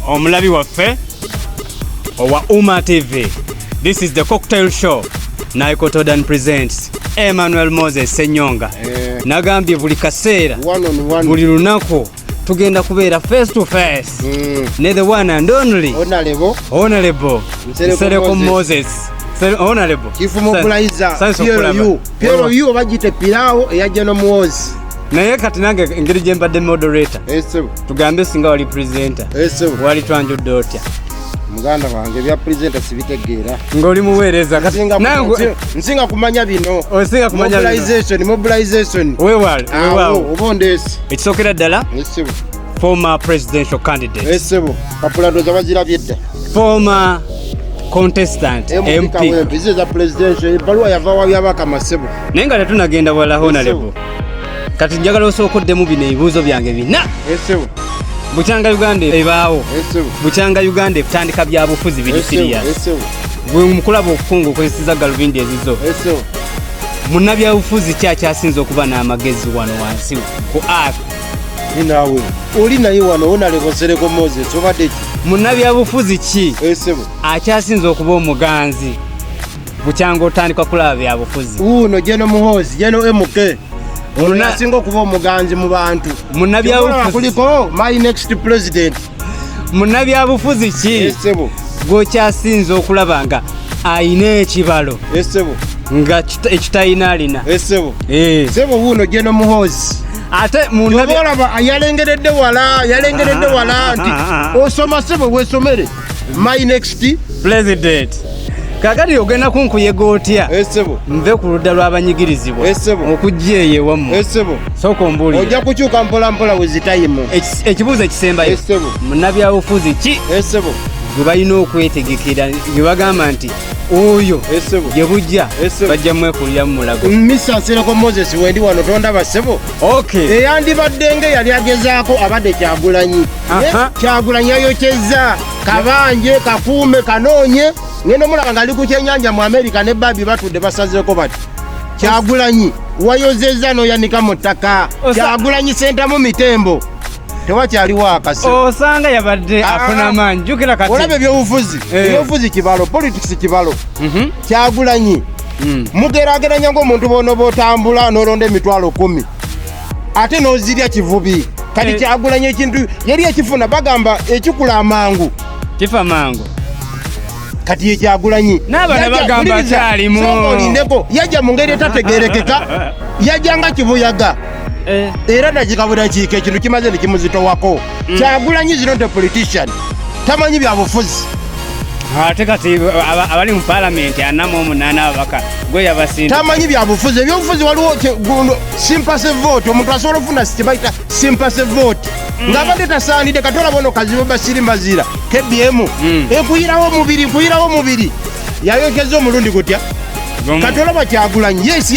omulabi waffe owa Uma TV. This is the cocktail show. Naiko Todan presents Emmanuel Moses Senyonga. Eh. Nagambye buli kaseera buli lunaku tugenda kubeera face to face mm. ne the one and only honorable honorable Nsereko Moses. Moses. honorable kifuma okulayiza plu oba gite piraawo eyajja n'omuwoozi naye kati nange engeri gye mbadde moderator eh, tugambe singa wali presenter eh, wali twanjudde otya muganda wange ebya presenta sibitegeera ngaoli muweereza nsinga kumanya bino mobilization wewal oba ondeesi ekisookera ddala former presidential candidate esebo eh, kapula ndoza bazirabye dda former contestant mp ziza presidential ebaluwa yava wabyabaka masebo naye nga tetunagenda wala honalebo kati njagala osooka oddemu bino ebibuuzo byange bina bukyanga uganda ebaawo bukyanga uganda ebutandika byabufuzi biri siriya gwe mukulaba okufunga okozeseza galubindi ezizo munabyabufuzi ki akyasinza okuba n'amagezi wano wansi ku ar naawe oli naye wano wonalebosereko moses obadde ki munabyabufuzi ki akyasinza okuba omuganzi bukyanga otandika kulaba byabufuzi uno jeno muhozi jeno mk onasinga okuba omuganzi mu bantu munabyabufuziakuliko my next president munabyabufuzi ki gwokyasinza okulaba nga ayina ekibalo nga ekitalina alina sebo eh. wuuno jeno muhozi ate munabyabufuzi yalengeredde wala yalengeredde wala nti osoma sebo wesomere my next president kakati ogenda kunkuyega otya eh, nve ku ludda lw'abanyigirizibwa eh, okujja eyo ewamu eh, sooka ombuulire ojja kukyuka mpolampola wezitayimu ekibuuzo ekisembayo munabyabufuzi ki gwe balina okwetegekera gwe bagamba nti oyo gye bujja bajja mwekulira mu mulago misansirekwa moses wendi wano tondaba ssebo Okay. Eyandibadde nga yali agezaako abadde kyagulanyi. Kyagulanyi yayokyezza kabanje kakuume kanoonye ngenda omulaba ngali ku kyenyanja mu Amerika ne babi batudde basazeeko bati kyagulanyi wayozezza n'oyanika mu ttaka kyagulanyi sentamu mitembo tewakyaliwo akasi osanga oh, yabadde ah, afuna amaanyi jukira kati olaba ebyobufuzi eh. ebyobufuzi kibalo politics kibalo mhm. kyagulanyi hmm. mugerageranya ngaomuntu bono botambula nolonda emitwalo kumi ate nozirya kivubi kati eh. kyagulanya ekintu yali ekifuna bagamba ekikula amangu kifa mangu kati yekyagulanyi nabana bagamba kyalimu olindeko yajja mu ngeri etategerekeka yajja nga kibuyaga eh. era nakikabwira kiika ekintu kimaze nekimuzitowako mm. kyagulanyi zino nte politician tamanyi byabufuzi ate kati abali mu palamenti anamu omunana ababaka gweyabasinda tamanyi byabufuzi ebyobufuzi waliwo simpase vote omuntu asobola ofuna sikibaita simpase vote mm. ngabadde tasaanidde kati olaba ono kazibu basiri mbazira kbm mm. ekuyirawo omubiri ekuyirawo omubiri yayokeza omulundi gutya kati olaba kyagulanyi yes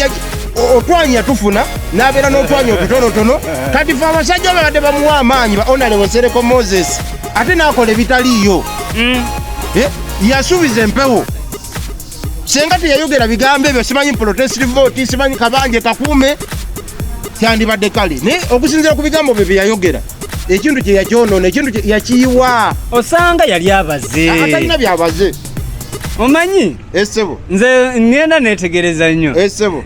otwanya tufuna nabeera n'otwanya otutonotono kati fe abasajja babadde bamuwa amaanyi baonalewosereko moses ate nakola ebitaliiyo mm. eh, yasuubiza empewo senga teyayogera bigambo ebyo simanyi protest vote simanyi kabanje kakuume kyandibadde kale naye okusinzira ku bigambo bye byeyayogera ekintu kye yakyonona ekintu yakiyiwa osanga yali abaze atalina byabaze omanyi esebo nze ngenda netegereza nnyo esebo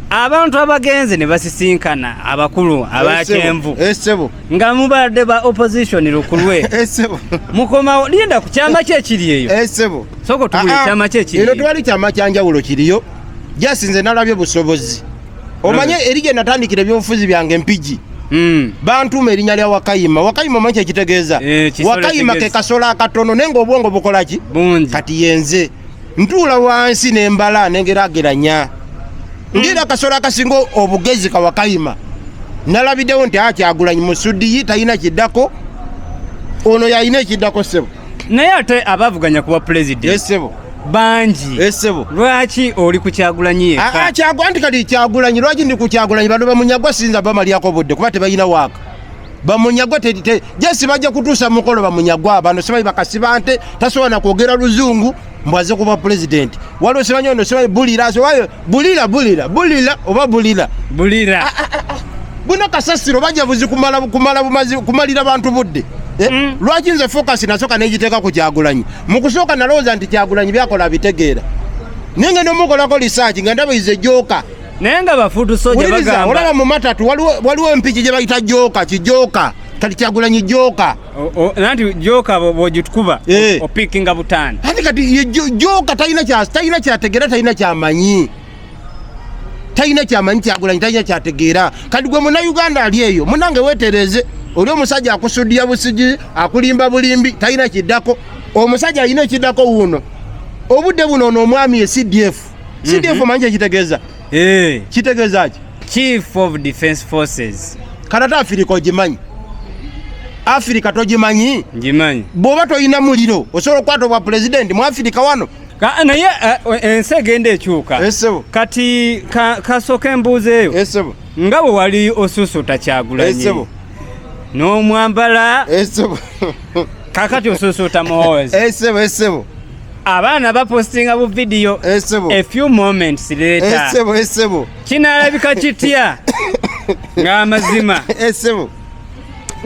abantu abagenze ne basisinkana abakulu abakyenvu esebo nga mubadde ba opposition lukulwe eh, sebo mukomawo linda ku kyama kye kiri eyo eh, sebo soko tubule ah, ah. kyama kye kiri ero twali kyama kyanjawulo kiriyo just nze nalabye busobozi omanye hmm. eri gye natandikira ebyobufuzi byange mpigi hmm. bantuuma erinnya lya wakayima wakayima omanyi kyekitegeeza eh, wakayima ke kasolo akatono naye nga obwongo bukola ki kati yenze ntuula wansi nembala nengerageranya ngeera akasolo akasinga obugezi kawakayima nalabidewo nti akyagulanyi ah, musudiyi talina kiddako ono yalina ekiddako sebo naye ate abavuganya kuba pulezidenti esebo bangi esebo lwaki oli kukyagulanyi yekakyagwa ah, ah, nti kati kyagulanyi lwaki ndi kukyagulanyi bano bamunyagwa sinza bamalyako budde kuba tebalina waaka bamunyagwa jesi bajja kutuusa mukolo bamunyagwa bano sibayi bakasiba nte tasobola nakwogera luzungu mbwaze kuba pulezidenti waliwo sibanyi ono sibanyi bulira sowayo bulira bulira bulira oba bulira bulira ah, ah, ah, buno kasasiro bajja buzi kumala kumala bumazi kumalira bantu budde eh, mm. lwaki nze focus nasoka nejiteka ku kyagulanyi mukusooka nalowooza nti kyagulanyi byakola bitegeera ninge nomukolako research nga ndaba ize joka naye nga bafutu soja bagamba olaba mu matatu waliwo waliwo mpiji je bayita joka kijoka kati kyagulanyi joka nanti joka bojitukuba eh. opikinga butani ati kati joka talina kya talina kyategera talina kyamanyi talina kyamanyi kyagulanyi talina kyategeera kati gwe munauganda ali eyo munange wetereze oli omusajja akusudiya busigi akulimba bulimbi talina kiddako omusajja alina ekiddako wuuno obudde buno ono omwami ye cdf CDF mhm. manje kitegeeza eh. kitegeeza ki chief of defense forces kanata afirika ogimanyi afirika togimanyi ngimanyi bw'oba tolina muliro osobola okukwata obwa pulezidenti mu afirika wano naye eh, ensi egenda ekyuka kati kasooka embuuza eyo nga bwe wali osuusuuta kyagulanyi n'omwambala kakati osuusuuta muhoozi esebo eh, esebo eh, abaana bapostinga bu video esebo eh, a few moments later esebo esebo kinalabika kitya ng'amazima esebo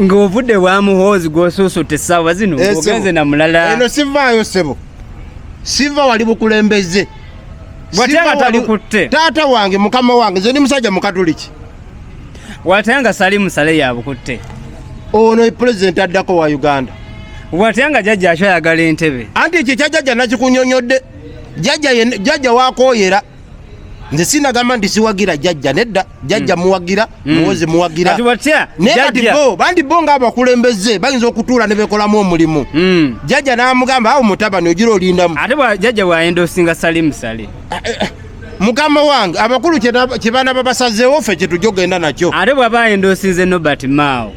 ng'ovudde wa muhoozi gwosuusuuta essaawa zino ogenze na mulala eno sivaayo sebo siva wali bukulembeze watya nga tabikutte taata wange mukama wange nze ndi musajja mukatuliki watya nga salimu sale yabukutte ono pulezidenti addako wa uganda watya nga jajja akyo ayagala entebe anti ekyo ekya jajja nakikunyonyodde jajja wakoyera nze sinagamba nti siwagira jajja nedda jajja mm. muwagira mm. muwozi muwagira naye kati bo bandi bo ngaabakulembeze bayinza okutuula nebekolamu omulimu mm. jajja namugamba awo mutabani ogira olindamu ate jajja bwayenda osinga salimusale eh, eh, eh. mukama wange abakulu kyebana babasazeewo ffe kyetujja okugenda nakyo ate bwaba endosinze nobert mao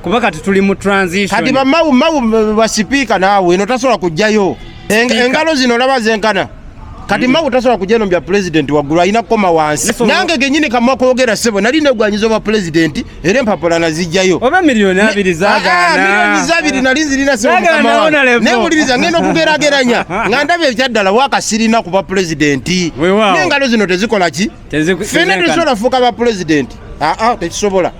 kuba kati tuli mu transition kati bamau mau basipiika naawe eno tasobola kujjayo engalo zino olaba zenkana kati mm. magu tasobola kujja nombya pulezidenti waggulu alina kukoma wansi nange genyini kamwa kwogera sebo nali negwanyiza obwa pulezidenti era empapula nazijjayo oba miliyoni abiri zagaanamiliyoni ah, ah, zabiri nali nzirina simukamawuliriza ngenda okugerageranya nga ndaba ekyaddala wakasirina ku bapulezidenti nengalo zino tezikola ki fena tesobola kufuuka bapulezidenti aa ah, tekisobola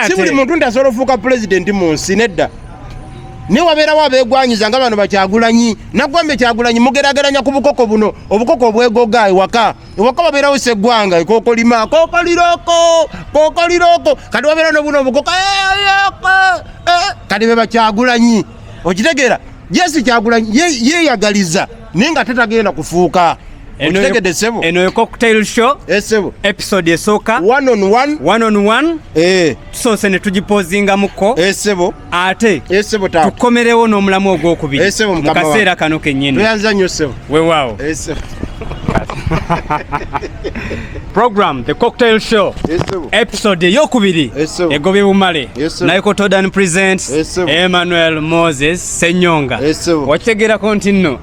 si buli muntu nti asobola ofuuka pulezidenti mu nsi nedda naye wabeerawo abeegwanyiza nga bano bakyagulanyi naggwambe kyagulanyi mugerageranya ku bukoko buno obukoko obwegoga ewaka iwako babera use gwanga ikoko lima koko liroko koko liroko kadi wabera no buno bukoko kadi beba kyagulanyi okitegera yesu kyagulanyi ye, ye yagaliza ninga tatagenda kufuuka okitegede sebo eno yo cocktail show esebo eh, episode esooka one on one one on one eh tusonse ne tugipozinga muko esebo eh, ate eh, tukomerewo n'omulamu ogwokubiri eh, mu kaseera kano kennyini wewaawo eh, program the cocktail show episode eyokubiri egobye bumale naiko todan presents emmanuel moses senyonga wakitegeerako nti nno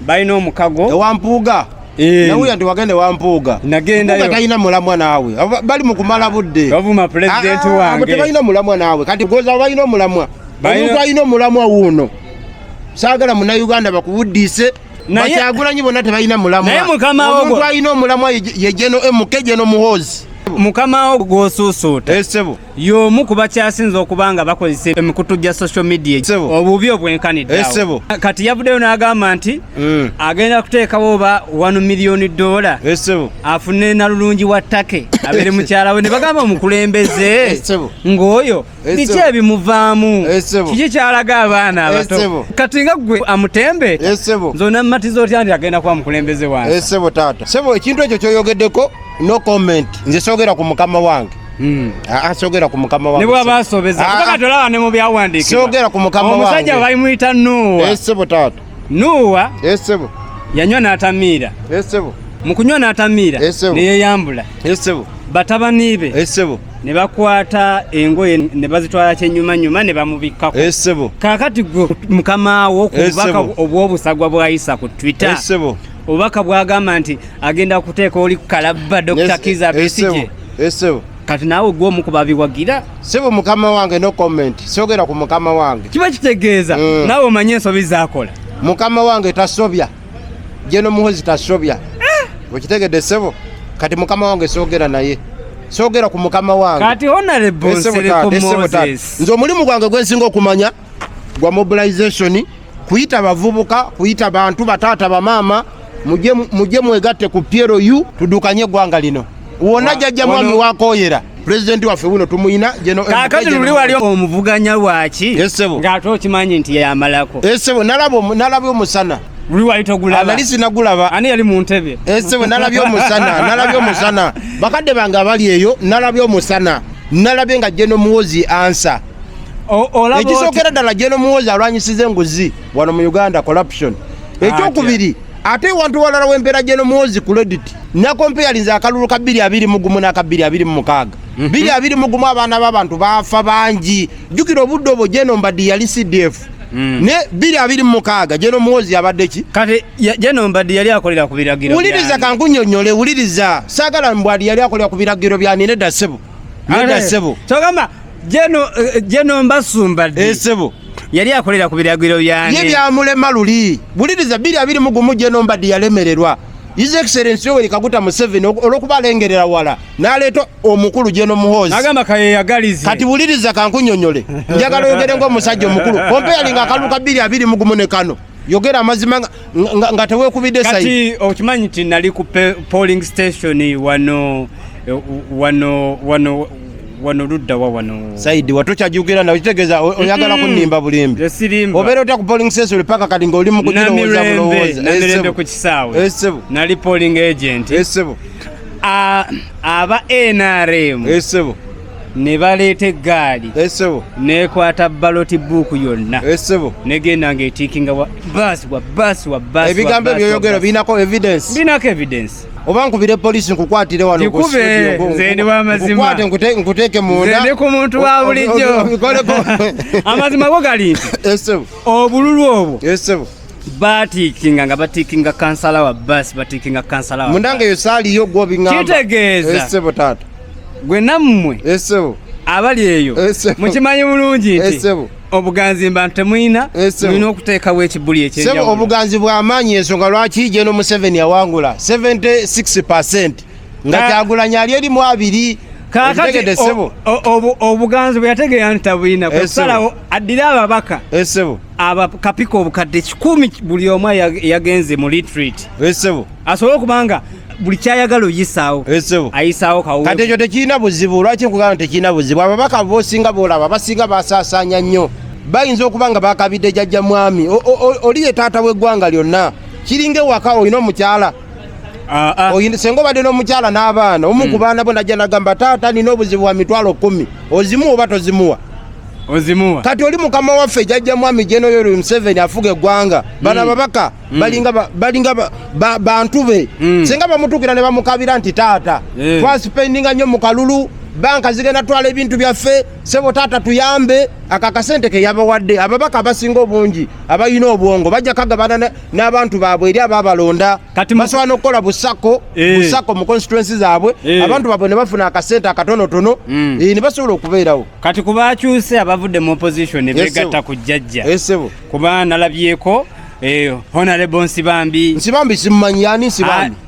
balina omukago ewa mpuuga eh. nawulira nti wagenda ewa mpuuga nagendayo talina mulamwa naawe bali mu kumala budde bavuma pulezidenti ah, ah, wange tebalina mulamwa naawe kati goza balina omulamwa omuntu alina omulamwa wuuno saagala munauganda bakuwuddiise bakyagulanyi bonna tebalina mulamwaomuntu alina omulamwa yejeno emuke jeno muhoozi mukama wo gwosuusuuta esebo eh, y'omu ku bakyasinze okuba nga bakozesa emikutu gya social media obubi obwenkaniddeawo eh, kati yavuddeyo n'agamba nti mm. agenda kuteekawo oba 1 miliyoni dola eh, afune nalulungi wa take abeere mukyala we ne bagamba omukulembeze eh, ng'oyo biki ebimuvaamu kiki kyalaga abaana abato kati nga gwe amutembe zona mumatiza otya nti agenda kuba mukulembeze wange ekintu ekyo kyoyogeddeko no comment nze soogera ku mukama wange Hmm. Ah, ah, sogera ku mukama wange nibwa basobeza ah, kubanga tolaba ne mu byawandiika sogera ku mukama wange omusajja bayimuyita nuwa esebo taata nuwa esebo yanywa n'atamiira esebo mu kunywa n'atamiira ne yeeyambula esebo batabani be esebo ne bakwata engoye ne bazitwala kyenyumanyuma ne bamubikkako esebo kaakati gwe mukama wo ku bubaka obw'obusagwa bwayisa ku twitter esebo obubaka bwagamba nti agenda kuteeka oli ku kalabba dr kiza besigye esebo eh, kati naawe gwe omu ku babiwagira sebo mukama wange no comment sogera ku mukama wange kiba kitegeeza mm. naawe omanye ensobi zakola mukama wange tasobya jeno muhozi tasobya eh. okitegedde sebo kati mukama wange sogera naye sogera ku mukama wange kati honorable eh, nze omulimu gwange gwensinga okumanya gwa mobilization kuyita bavubuka kuyita bantu bataata bamaama mujje mwegatte ku plu tudukanye eggwanga lino wona jajja mwami wakoyera pulezidenti waffe wuno tumuyina kakati luli wali omuvuganya waki ng'ate okimanyi nti yamalako esebo nalaba omusana luli wali togulaba nali sinagulaba ani yali mu ntebe esebo nalabye omusana nalabye omusana bakadde bange abali eyo nalabye omusana nalabye nga jeno muwozi ansa ekisookera ddala jeno muwozi alwanyisiza enguzi wano mu uganda corruption ekyokubiri ate ewantu walala wempeera jeno muwozi credit nakompeyalinza akalulu ka bbiri abiri mugumu n'aka bbiri abiri mu mukaaga mhm. bbiri abiri mugumu abaana b'abantu baafa bangi jjukira obudde obwo jeno mbaddi yali cdf Mm. ne biri abiri mukaaga jeno muwozi yabadde ki kati jeno mbadde yali akolera ku biragiro wuliriza kankunyonyole wuliriza saagala mbwadi yali akolera ku biragiro byanireda sebo neda sebo kyogamba Jeno eh, Jeno Mbasumba di. Esebo. Eh, Yali akolera ku biragiro byane. Ye byamulema luli. Buliriza biri abiri mugumu Jeno Mbadi yalemererwa. His Excellency Yoweri Kaguta Museveni olwokuba alengerera wala n'aleeta omukulu Jeno Muhoozi agamba kayeyagalize. Kati wuliriza kankunyonyole, njagala oyogere ng'omusajja omukulu comparing akalulu ka bbiri abiri mugumu ne kano. yogera amazima nga tewekubidde sayi kati okimanyi nti nali ku polling station wano eh, wano wano wano ludda wa wano saidi watu chajukira na uchitegeza oyagala mm. kunimba bulimbi yesirimba obero ta ku polling station paka kati ngo oli mukutiro woza bulowoza na mirembe ku kisawe esebo nali polling agent esebo a aba NRM esebo ne baleeta eggaali esebo eh, nekwata baloti buuku yonna esebo eh, negenda nga etiikinga bas wa bas wa bas ebigambo ebyoyogero birinako evidence birinako evidence oba nkubire polisi nkukwatire wano nkikube nze ndi wamazima nkuteeke munda ndi ku muntu wa bulijjo amazima go gali nti eh, obululu obwo batikinga nga batikinga kansala wa basi batikinga kansala wa mundange yo sali yo gwo bingamba kitegeeza esebo tata gwe namwe esebo abali eyo mukimanyi bulungi nti esebo obuganzi mba ntemuyina mulina okuteekawo ekibuli ekyenjawulo obuganzi bw'amaanyi ensonga lwaki jeno museveni yawangula 76 percent nga ah. kyagulanyi ali erimu abiri kakati obuganzi bweyategeera nti tabulina kwesalawo eh, addire ababaka esebo eh, abakapika obukadde kikumi buli omu yagenze mu litrit esebo eh, asobole okubanga buli kyayagala oyisaawo ayisaawo kawkati ekyo tekirina buzibu lwaki nkugamba tekirina buzibu ababaka bosinga bolaba basinga basasanya nnyo bayinza okuba nga bakabidde jajja mwami oli ye taata w'eggwanga lyonna kiringa ewaka olina omukyala Ah, ah. senga obadde n'omukyala n'abaana omu ku hmm. baana bo najja nagamba taata nina obuzibu bwa mitwalo kumi ozimuwa oba tozimuwa ozimuwa kati oli mukama waffe jajja mwami jenoyori museveni afuga eggwanga hmm. bana babaka hmm. balinga bantu be senga bamutukira ne bamukabira nti taata eh. twasipendinga nnyo mu kalulu banka zigenda twala ebintu byaffe sebo taata tuyambe ako akasente keyabawadde ababaka abasinga obungi abalina obwongo bajja kagabana n'abantu baabwe eri abaabalonda basobola n'okukola busako eh. busako mu constituensi zaabwe eh. abantu baabwe ne bafuna akasente akatonotono hmm. eh, ne basobola okubeerawo kati ku baakyuse abavudde mu opposition ne beegatta ku jjajja kuba nalabyeko honorable nsibambi nsibambi simumanyi yani nsibambi ah,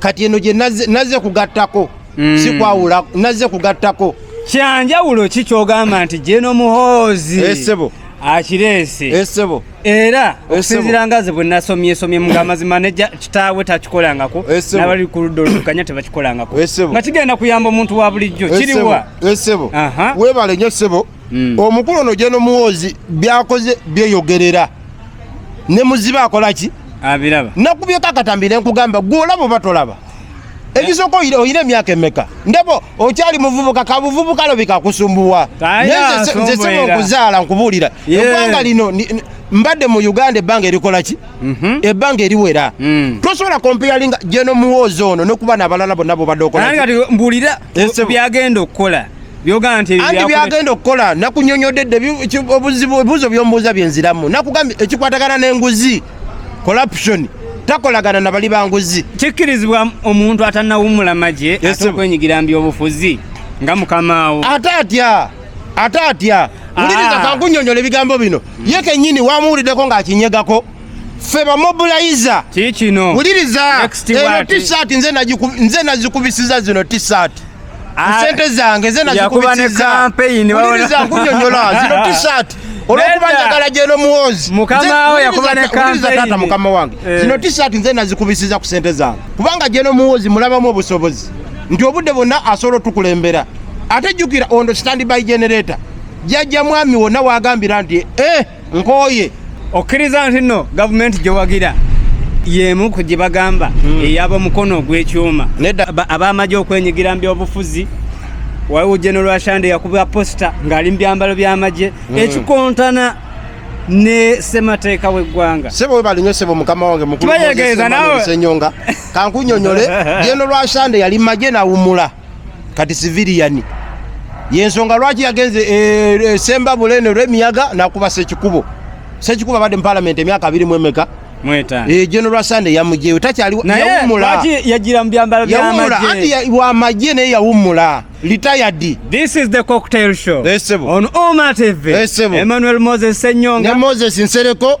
kati eno gye nazze kugattako mm. sikwawula nazze kugattako kyanjawulo ki kyogamba nti jeno muhoozi esebo eh, akireese esebo eh, era okusinzira nga ze bwe nasomyesomye mu amazima ne kitaawe takikolangako eh, nabali ku ludda oluvuganya tebakikolangako nga kigenda kuyamba omuntu wa bulijjo kiriwa esebo webale nyo sebo mm. omukulu ono jeno muwoozi byakoze byeyogerera ne muzibe akola ki abiraba nakubyeko akatambi nenkugamba gwe olaba oba tolaba ekisooka oyina emyaka emeka ndebo okyali muvubuka kabuvubuka lobika kusumbuwa nze sema okuzaala nkubuulira eggwanga lino mbadde mu uganda ebbanga erikola ki mhm. ebbanga eriwera mm. tosobola kompeyalinga jeno muwoozi ono nokuba nabalala bonna bobadde okola mbuulira byagenda okukola byogamba nti andi byagenda okukola nakunyonyodde dde obuzibu ebibuzo byombuuza byenziramu nakugambye ekikwatagana n'enguzi corruption takolagana na bali banguzi kikkirizibwa omuntu atanawumula magye ate okwenyigira mbyobufuzi nga mukamaawo ate atya ate atya ah. wuliriza kankunyonyola ebigambo bino ye kenyini wamuwuliddeko ng'akinyegako ffe bamobiliza kikino wuliriza eno tisati nze nazikubisiza zino tisati ah, sente zange nze nazikubisiza wuliriza nkunyonyola zino tisati olwokuba njagala gyeno muwozi mukamawo yakuba ne kampeyini mukama wange eh. zino tisati nze nazikubisiza ku sente zange kubanga gyeno muwozi mulabamu obusobozi nti obudde bwonna asobola otukulembera ate jjukira ondo standby generator jajja mwami wonna wagambira nti eh nkooye okkiriza nti nno gavumenti gyewagira yemu ku gye bagamba hmm. eyaba omukono ogw'ekyuma ab'amagye okwenyigira mu byobufuzi waliwo genero ashande yakuba posita ng'ali mu byambalo by'amagye hmm. ekikontana ne semateeka w'eggwanga sebo webalinyo sebo mukama wange mukulu tubayegeeza nawe senyonga kankunyonyole genero ashande yali magye nawumula kati siviriyani yensonga lwaki yagenze eh, eh, semba bulene olwemiyaga nakuba sekikubo sekikubo abadde mu palamenti emyaka abiri mu emeka eh, general sande yamujeyo takyaliwumulayagira mu byambalo byamagye wamagye naye yawumula litayadi this is the cocktail show esebo on oma tv esebo emmanuel moses senyonga ne moses nsereko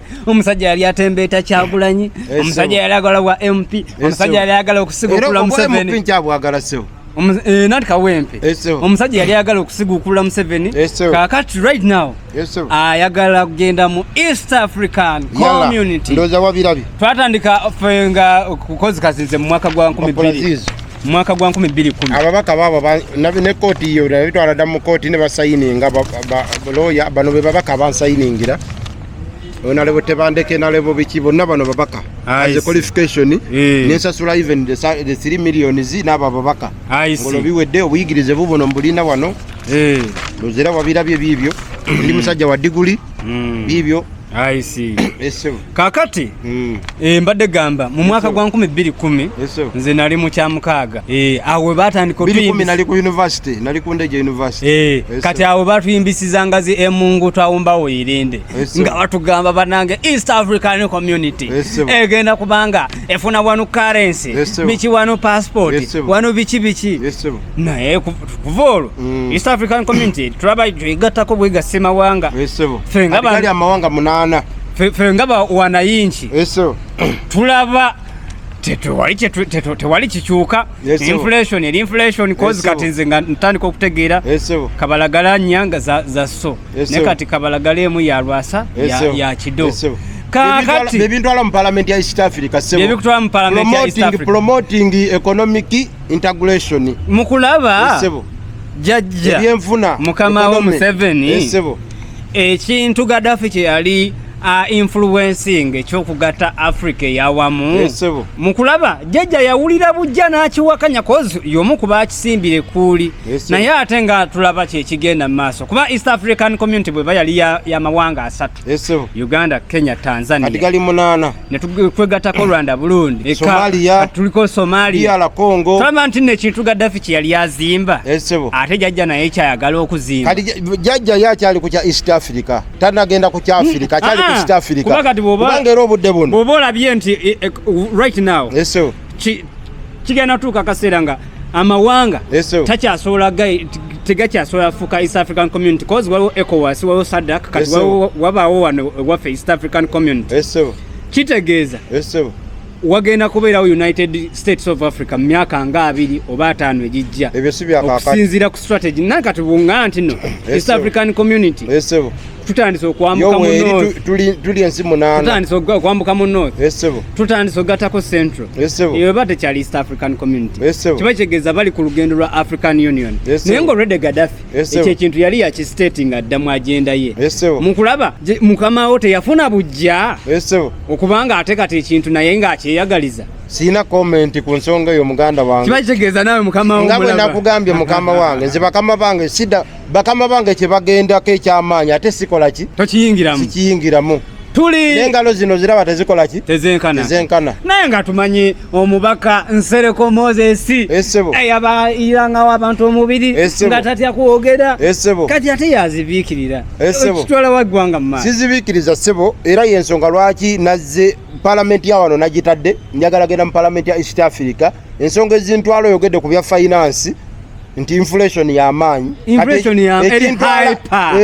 omusajja yali atembeeta kyagulanyi eh, omusajja yali agala bwa mp eh, omusajja yali agala okusigukula museveni eh, nati kawempe omusajja yali ayagala okusigukula museveni kakati right now ayagala kugenda mu east african community twatandika fe nga kukozikazinze mu mwaka gwa 12 mwaka gwa 2010 ababaka babo ne kooti yo nabitwala dda mu kooti ne basayininga loya bano be babaka bansayiningira onalebo tebandeke nalebo biki bonna bano babaka as a qualification eh. nensasula even the 3 millions n'abo ababaka ngolo biwedde obuyigirize bubuno mbulina wano eh. luzira wabirabye biibyo ndi musajja wa diguli mm. biibyo kakati Mm. E, mbadde gamba mu mwaka gwa nkumi bbiri kumi nze nali mu kyamukaaga e, awe batandika e, kati awe batuyimbisizanga zi emungu twawumbawo irinde nga batugamba banange east african community egenda kubanga efuna wanu karensi biki wanu passport wanu biki biki naye kuva olwo mm. east african community tulaba igattako bwegasimawanga fenga amawanga munana fe nga wanayinki eso tulaba tewali tewali kikyuka inflation eri inflation cause kati nze nga ntandika okutegeera kabalagala nyanga za, za so ne kati kabalagala emu ya lwasa ya, ya kido kakati bebintwala mu parliament ya east africa sebo bebitwala mu parliament ya east africa promoting economic integration mukulaba sebo jajja ebyenfuna mukama wa museveni sebo ekintu gadafi kyeyali a influencing ekyokugatta africa eyawamu eh, mu kulaba jjajja yawulira bujja n'akiwakanya kozi yomu kuba akisimbire kuuli eh, naye ate nga tulaba kyekigenda mu maaso kuba east african community bweba yali yamawanga asatu eh, uganda kenya tanzania netwegatako rwanda burundi somalia tuliko somalia DR congo tulaba nti nno ekintu gaddafi kye yali azimba esebo eh, ate jajja naye kyayagala okuzimba kati jajja ye akyali ku kya east africa tanagenda ku kya afirika hmm. akyali ku ah, east africa kuba kati bwobanga era obudde buno bwoba olabye nti eh, eh, right now esebo kigenda tuuka akaseera nga amawanga takyasobola tegakyasobola fuka east african community cause waliwo ecowas waliwo sadak kati wabaawo wano waffe east african community kitegeeza wagenda kubeerawo united states of africa mu myaka nga abiri oba ataano egijja okusinziira ku strategy naye kati bunga nti no east african community tutandise okwambuka mu north tuli tuli ensi munana tutandise okwambuka mu north yes sebo tutandise ogatako central yes sebo iyo bate cha east african community yes sebo kiba kigeza bali ku lugendo lwa african union yes sebo nengo rede gaddafi yes sebo ekintu yali ya ki stating adda mu agenda ye yes sebo mukulaba mukama wote yafuna bujja yes sebo okubanga atekate ekintu naye nga akyeyagaliza sina comment ku nsonga eyo muganda wange kiba kigeza nawe mukama wange nga bwe nakugambye mukama wange nze bakama bange sida bakama bange kyebagendako ekyamaanyi ate sikola ki tokiyingiramu sikiyingiramu tuli n'engalo zino ziraba tezikola ki tezenkana tezenkana naye nga tumanyi omubaka nsereko moses esebo eyabayirangawo abantu omubiri nga tatya kwogera esebo kati ate yazibiikirira esebo kitwala waggwanga mu sizibiikiriza sebo era yensonga lwaki nazze palamenti ya wano nagitadde njagala genda mu palamenti ya east africa ensonga ezintwala oyogedde ku bya finance nti inflation yamaanyi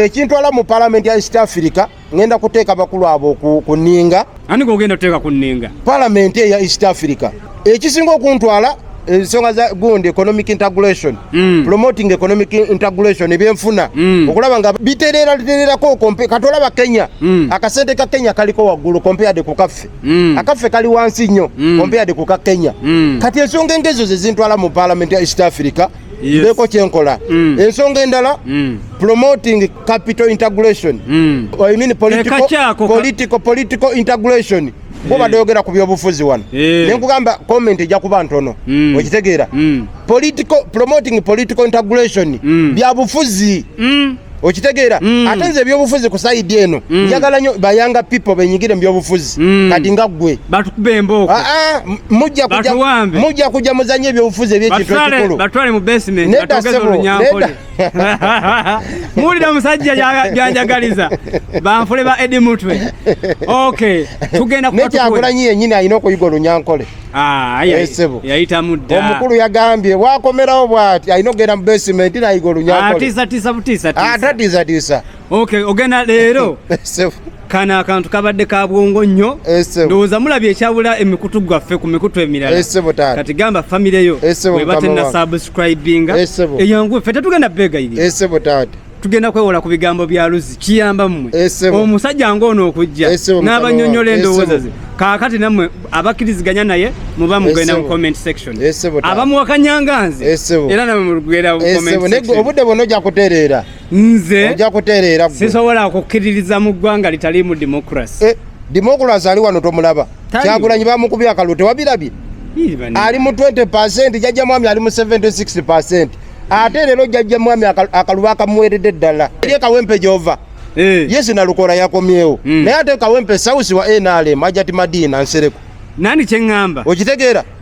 ekintwala mu palamenti ya east africa ngenda kuteeka bakulu abo ku ninga ani gogenda kuteeka ku ninga palamenti eya east africa ekisinga okuntwala ensonga za gundi economic integration mm. promoting economic integration ebyenfuna mm. okulaba nga biterera tererako kati olaba kenya mm. akasente ka kenya kaliko waggulu compared ku kaffe mm. akaffe kali wansi nnyo mm. ompeade ku ka kenya mm. kati ensonga engezo zezintwala mu parliament ya east africa yes. ndeko kyenkola mm. ensonga endala mm. promoting capital integration mm. I mean political, political, political integration bo badoyogera ku byobufuzi wano eh. nenkugamba comment ejja kuba ntono mm. okitegeera mm. promoting political integration mm. byabufuzi okitegeera mm. ate nze ebyobufuzi ku saidi eno mm. njagala nyo bayanga people benyigire mubyobufuzi mm. kati nga ggwe ah, ah, mujja kujja muzanye ebyobufuzi ebyekintu ekikulu muwulira omusajja byanjagaliza banfule ba edi mutwe ok tugenda nekyagulanyi yenyini alina okuyiga olunyankole Ah, yayitamu dda omukulu yagambye wakomerawo bwati alina okugenda mu basement nayiga olunyatatiisatiisatiisatiisatiisa ah, okay ogenda leero kano akantu kabadde ka bwongo nnyo ndowooza mulabye ekyabula emikutu gwaffe ku mikutu emirala kati gamba famire yo webatenna subscribinga eyangu ffe tetugenda beegayirira tugenda kwewola ku bigambo bya Luzzi kiyamba mmwe omusajja ng'ono okujja n'abanyonyola endowooza ze kaakati nammwe abakkiriziganya naye muba mugenda mu comment section abamuwakanyanga nze era namwe mulugwera obudde bwona ojja kutereera nze ojja kutereera sisobola kukkiririza mu ggwanga litaliimu democracy eh, democracy ali wano tomulaba kyagulanyi bamukubye akalulu tewabirabye ali mu 20 percent jajja mwami ali mu 76 percent ate lero jajja mwami akaluba akamuwerede ddala ye kawempe gyova eh. yesu nalukora yakomyewo hmm. naye ate kawempe sausi wa nrm ajati madina nsereko nani kyeŋŋamba okitegeera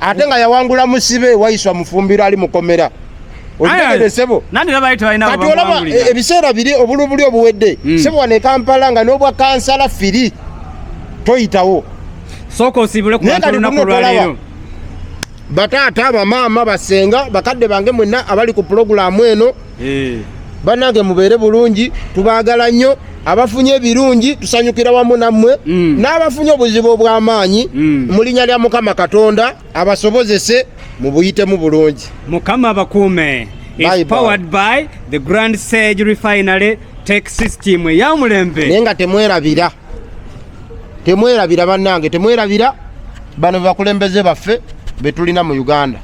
ate nga yawangula musibe wayiswa mufumbiro ali mukomera okitegedesebo kati olaba e, ebiseera biri obulubuli obuwedde hmm. sebo wano ekampala nga n'obwa kansala firi toyitawo sooka osiibule ku bantu olunaku olwaleero bataata bamaama basenga bakadde bange mwenna abali ku pulogulaamu eno eh. banange mubeere bulungi tubaagala nnyo abafunye ebirungi tusanyukira wamu nammwe mm. n'abafunye obuzibu obw'amaanyi mm. mu linnya lya mukama katonda abasobozese mubuyitemu bulungi mukama abakuume is powered by the grand sage refinery tech system eyamulembe naye nga temwerabira temwerabira bannange temwerabira bano bakulembeze baffe betulina mu uganda